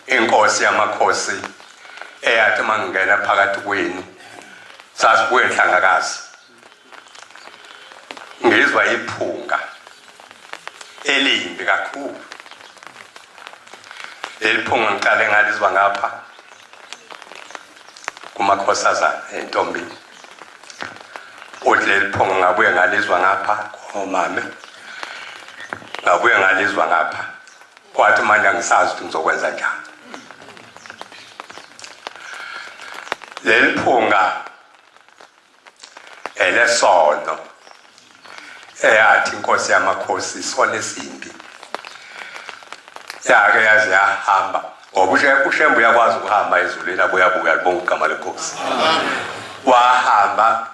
inkosi yamakhosi eyathi mangingena phakathi kwenu sasibuye nhlangakazi ngizwa iphunga elimbi kakhulu leli phunga ngiqale ngalizwa ngapha kumakhosazana entombini uthi leli phunga ngabuye ngalizwa ngapha komame ngabuye ngalizwa ngapha wathi manje angisazi ukuthi ngizokwenza njani leli phunga elesono eyathi inkosi yamakhosi isona esimbi yake yaze yahamba ngoba ushembe uyakwazi ukuhamba ezulwini abuyabuka libonga ugama lenkosi wahamba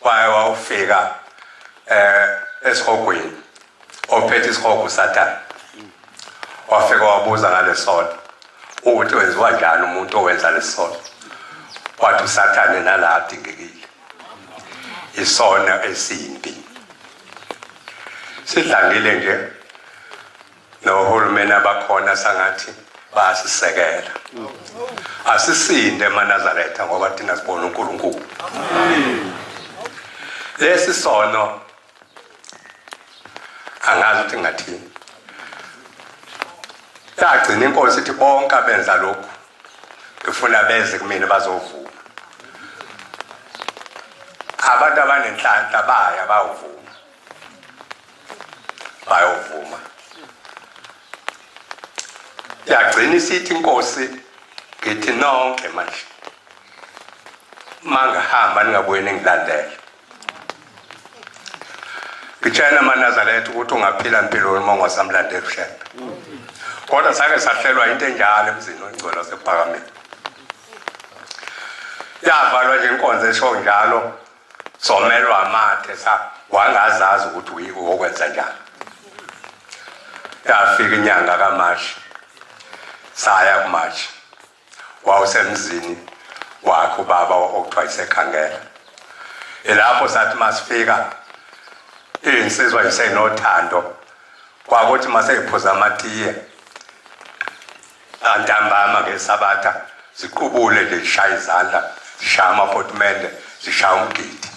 waye wawufika um eh, esihogweni ophethe isihogo usathane wafika wabuza ngalesono ukuthi wenziwa njani umuntu owenza lesono wathi usathane nala adingekile isona esimbi sidlangile nje nohulumeni abakhona sangathi bayasisekela asisinde emanazaretha ngoba thina sibona unkulunkulu lesi sono angazi ukuthi ngingathini yagcina inkosi ithi bonke abenza lokhu ngifuna beze kumina bazovuma abantu abanenhlanhla baya bawuvuma bayovuma yagcina isithi inkosi ngithi nonke manje mangihamba ningabuye ningilandele ngitshela amanazaretha ukuthi ungaphila mpilo uma ungasamlanda ebuhlebe kodwa sake sahlelwa into enjalo emzini ongcwele wasephakameni yavalwa nje inkonzo esho njalo somelwa amathe sa wangazazi ukuthi uyiko wokwenza njalo yafika inyanga kamashi saya kumashi wawusemzini wakhe ubaba okuthiwa isekhangela ilapho sathi masifika iy'nsizwa yisenothando kwakuthi maseyiphuza amatiye antambama ngesabatha ziqubule nje zishaya izandla zishaya amaphotimende zishaya umgidi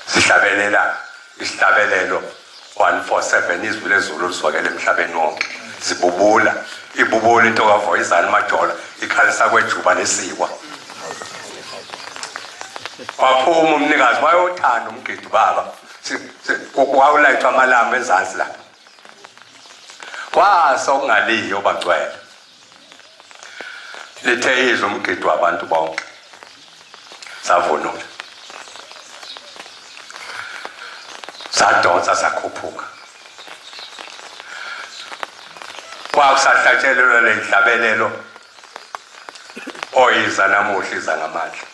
sihlabelela isihlabelelo 147 izwi lezulu liswakele emhlabeni wonke zibubula ibubula into kavoyizani majola ikhalisa kwejuba nesikwa waphuma umnikazi wayothanda umgidi baba kwawulayithwa amalamba ezansi lapha kwasa okungaliyo bagcwele lithe izwe umgidi wabantu bonke savunula sadonsa sakhuphuka kwakusahlatshelelwa lenhlabelelo oyiza namuhla iza ngamandla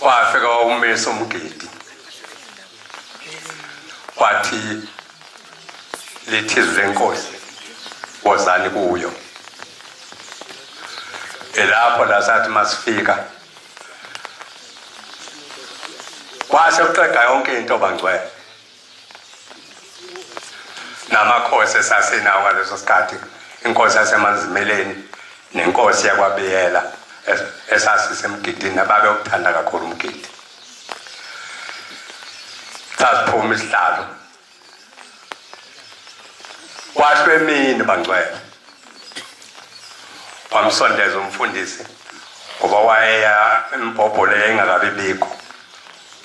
wafika wawumisa umgidi wathi lithi izwi lenkosi wozani kuyo elapho la sathi masifika kwase kuqeda yonke into bangcwele namakhosi esasinawo ngaleso sikhathi inkosi yasemanzimeleni nenkosi yakwabiyela esasisemgidini nababe ukuthanda kakhulu umgidi sasiphuma isihlalo kwasho emini bangcwele wamsondeza umfundisi ngoba wayeya embhobhole engakabi bikho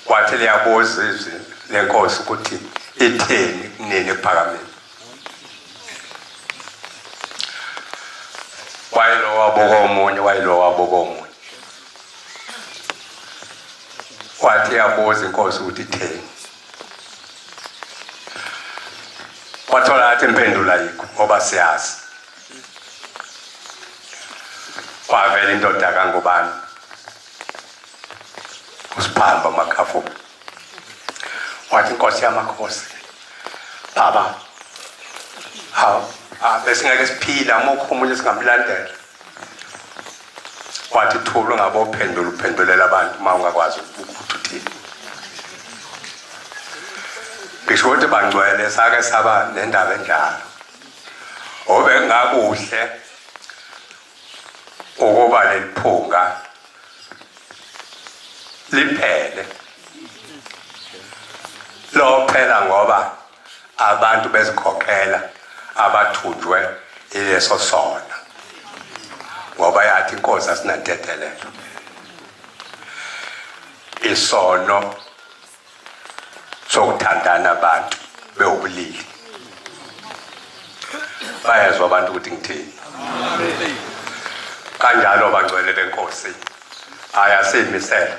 Kwathi liyabuza izwi lenkosi ukuthi itheni kunini ephakameni. Wayelo wabuka omunye, wayelo wabuka omunye. Wathi yabuza inkosi ukuthi itheni. Wathola athi impendulo ayikho ngoba siyazi. Kwavela indoda kangubani usiphamba umakhafu wathi inkosi yamakhosi baba hawu ah, besingeke siphila mukho umuntu singamlandela wathi thula ungabe uphendula uphendulela abantu uma ungakwazi ukuthi uthini ngisho ukuthi bangcwele sake saba nendaba enjalo obengakuhle ukuba leliphunga liphele lophela ngoba abantu bezikhokhela abathunjwe ileso sona ngoba yathi inkosi asinantethelelo isono sokuthandana abantu bewubulili bayezwa abantu ukuthi ngithini kanjalo bangcwele benkosi aya siyimisele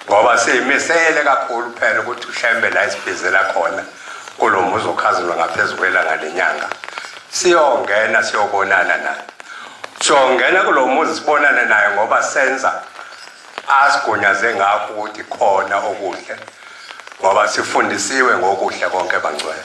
ngoba siyimisele kakhulu phela ukuthi ushembe la isibhizela khona kulo muzi okhazulwa ngaphezu kwelanga lenyanga siyongena siyobonana naye siyongena kulo muzi sibonane naye ngoba senza asigunyaze ngakho ukuthi khona okuhle ngoba sifundisiwe ngokuhle konke bangcwele